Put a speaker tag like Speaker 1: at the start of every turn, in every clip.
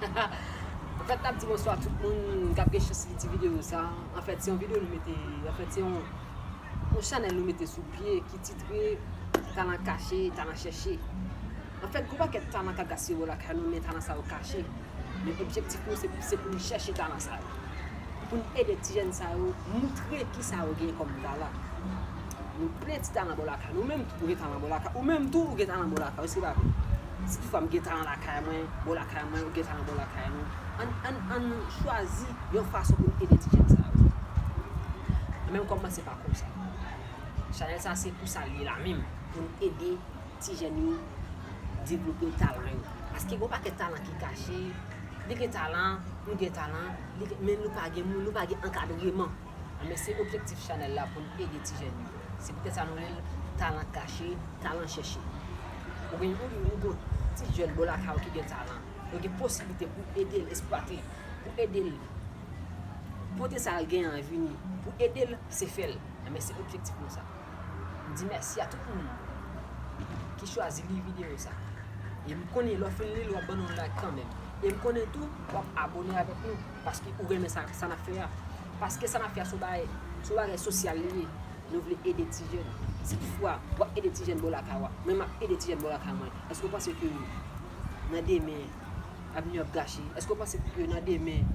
Speaker 1: Hahaha Anfèt nap di bonswa tout moun kap gen chans li ti video sa Anfèt se yon video nou mete Anfèt se yon chanèl nou mete sou pye ki titre Talan kache, talan chèche Anfèt gou pakèt talan kap gaspiye bò lakay nou men talan sa yo kache Men objektif nou se pou nou chèche talan sa yo Poun ede ti jèn sa yo moutre kisa yo gen kòm talan Nou plen ti talan bò lakay nou menm tou ou gen talan bò lakay ou menm tou ou gen talan bò lakay ou èske pa vre si tou fwa m gen talan lakay mwen bò lakay mwen ou gen talan bò lakay nou ann ann ann chwazi yon fason pou n ede ti jèn sa yo mwen menm kòm mwen se pa konsa chanèl sa se pou sa l ye la menm pou n ede ti jèn yo devlope talan yo paske gen yon pakèt talan ki kache li gen talan ou gen talan li gen men nou pa gen moun nou pa gen ankadreman. Anben se objektif chanèl la pou n ede ti jèn yo. Se poutèt sa nou rele l Talan kache, talan chèche. Ou gen yon nouvo ti jèn bò lakay ou ki gen talan. Nou gen posiblite pou ede l esplwate l, pou ede l pote sa l genyen an vini, pou ede l se fè l. Anben se objektif nou sa. M di mèsi a tout moun ki chwazi li videyo sa. E m konnen lè w fin li l w ap ban nou like kanmenm. E m konnen tou w ap abone avèk nou. Paske ou renmen sa sa nap fè a. Paske sa nap fè a son bagay son bagay sosyal li ye. Nou vle ede ti jèn. Si tout fwa wap ede ti jèn bò lakay ou a, mwen map ede ti jèn bò lakay mwen. Eske ou panse ke nan demen avni yo ap gache? Eske ou panse ke nan demen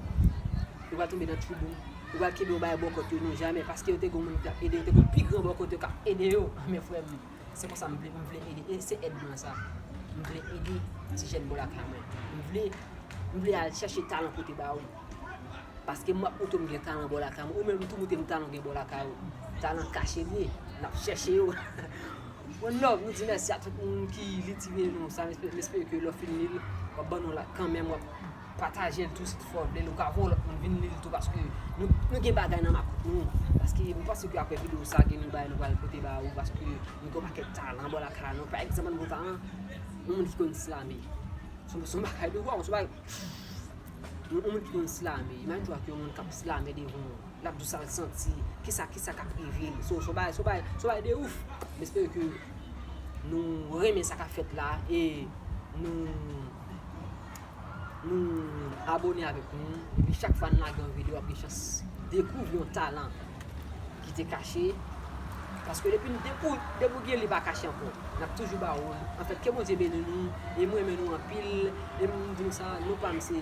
Speaker 1: yo pral tonbe nan twouble? Yo pral kenbe yo bay bòkòt yo? Non jamè. Paske yo te gen yon moun ki tap ede yo, te gen yon pi gran bòkòt yo kap ede yo. Men frè m. Se konsa m vle, m vle ede. E se èd mwen sa. M vle ede ti jèn bò lakay mwen. M vle, m vle al chèche talan pote ba ou. Paske m ap moute m gen talan bò lakay mwen. Ou menm tou moute m talan w gen bò lakay ou. Talan kache l ye. N ap chèche yo. One love, nou di mèsi a tout moun ki li ti vye nou sa. M espere ke lè w fin li l, w ap ban nou like kanmèm. Patajel tou si tfwa ou vlel ou ka voye lot moun vin lil tou paske nou gen bagay nan makout nou paske m panse ke aprè video sa gen yon bagay nou pral pote ba ou paske nou gen yon pakèt talan bò lakay nou pa egzanp yon gwo talan yon moun ki konn slame son bagay nou waww son bagay pfff yon moun ki konn slame imajine twa ke yon moun kap slame devan ou lap di w sal santi kisa kisa kap rive l son bagay son bagay son bagay de ouff m espere ke nou renmen sa kap fèt la e nou. Nou abone avèk nou epi chak fwa nou lage yon video wap gen chans dekouvri yon talan ki te kache paske depi nou dekouvri depi ou gen li pa kache ankò nap toujou ba ou anfèt ke Bondye beni nou e mwen renmen nou anpil e m di nou sa non pam se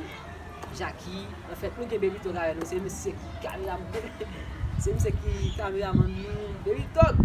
Speaker 1: Jacky anfèt nou gen Bebitog avè nou se misye ki kameramann se misye ki kameramann nou Bebitog.